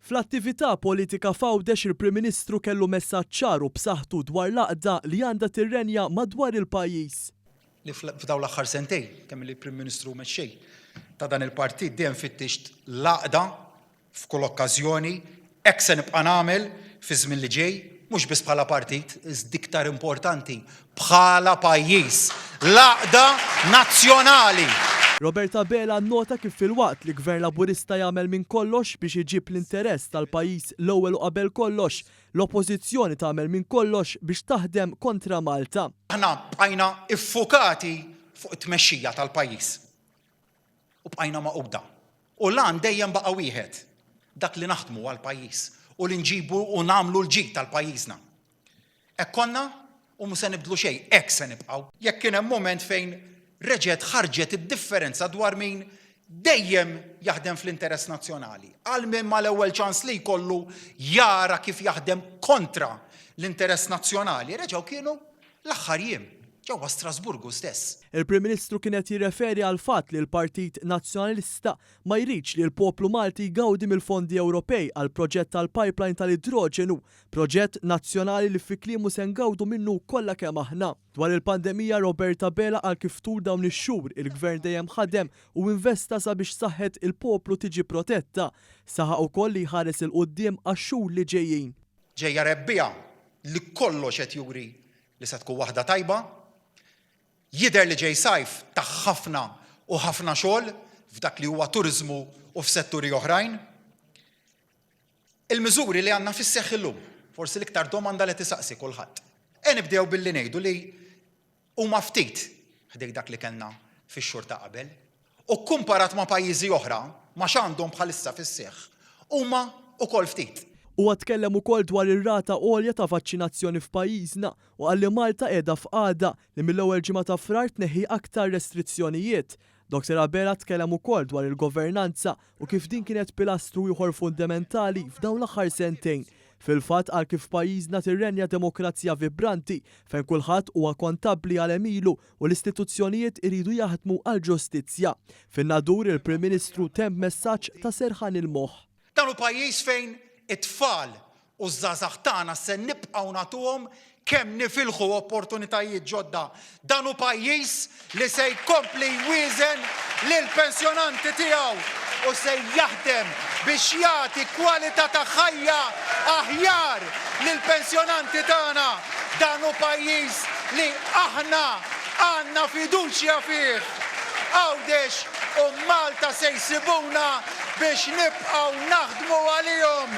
Fl-attività politika f'Għawdex il-Prim Ministru kellu messaġġ ċar u b'saħħtu dwar l-għaqda li għandha tirrenja madwar il-pajjiż. li f'dawn l-aħħar sentejn, kemm-illi Prim Ministru u Mexxej ta' dan il-Partit, dejjem fittixt l-għaqda f'kull okkażjoni, hekk se nibqa' nagħmel fiż-żmien li ġej, mhux biss bħala partit, iżda iktar importanti, bħala pajjiż, l-għaqda nazzjonali. Robert Abela nnota kif filwaqt li Gvern Laburista jagħmel minn kollox biex iġib l-interess tal-pajjiż l-ewwel u qabel kollox, l-Oppożizzjoni tagħmel minn kollox biex taħdem kontra Malta. Aħna bqajna ffukati fuq it-tmexxija tal-pajjiż. u bqajna magħquda. U l-għan dejjem baqa' wieħed, dak li naħdmu għall-pajjiż u li nġibu u nagħmlu l-ġid tal-pajjiżna. Hekk konna u mhu se nibdlu xejn, hekk se nibqgħu. Jekk kien hemm mument fejn reġgħet ħarġet id-differenza dwar min dejjem jaħdem fl-interess nazzjonali, għal min mal-ewwel ċans li jkollu jara kif jaħdem kontra l-interess nazzjonali, reġgħu kienu l-aħħar jiem, ġewwa Strasburgu stess. Il-Prim Ministru kien qed jirreferi għall-fatt li l-Partit Nazzjonalista ma jridx li l-poplu Malti jgawdi mill-fondi Ewropej għall-proġett tal-pipeline tal-idroġenu, proġett nazzjonali li fi kliemu se ngawdu minnu kollha kemm aħna. Dwar il-pandemija, Robert Abela qal kif tul dawn ix-xhur il-Gvern dejjem ħadem u investa sabiex saħħet il-poplu tiġi protetta. Saħaq ukoll li jħares 'il quddiem għax-xhur li ġejjin. Ġejja rebbiegħa li kollox qed juri li se tkun waħda tajba. Jidher li ġej sajf ta' ħafna u ħafna xogħol f'dak li huwa turiżmu u f'setturi oħrajn. Il-miżuri li għandna fis-seħħ illum, forsi l-iktar domanda li tisaqsi kulħadd. E nibdew billi ngħidu li huma ftit ħdejn dak li kellna fix-xhur ta' qabel, u kkumparat ma' pajjiżi oħra, ma' x'għandhom bħalissa fis-seħħ, huma wkoll ftit. Huwa tkellem ukoll dwar ir-rata għolja ta' vaċċinazzjoni f'pajjiżna u qal li Malta qiegħda f'qagħda li mill-ewwel ġimgħa ta' Frar tneħħi aktar restrizzjonijiet. Doctor Abela tkellem ukoll dwar il-governanza u kif din kienet pilastru ieħor fundementali f'dawn l-aħħar sentejn. Fil-fatt qal kif f'pajjiżna tirrenja demokrazija vibranti fejn kulħadd huwa kontabbli għal għemilu u l-istituzzjonijiet iridu jaħdmu għall-ġustizzja. Fin-nadur il-Prim Ministru temm b'messaġġ ta' serħan il-moħħ. Dan hu pajjiż fejn it-tfal u ż-żgħażagħ tagħna se nibqgħu nagħtuhom kemm nifilħu opportunitajiet ġodda. Dan hu pajjiż li se jkompli jwieżen lill-pensjonanti tiegħu u se jaħdem biex jagħti kwalità ta' ħajja aħjar lill-pensjonanti tagħna. Dan hu pajjiż li aħna għandna fiduċja fih. Għawdex u Malta se jsibuna biex nibqgħu naħdmu għalihom.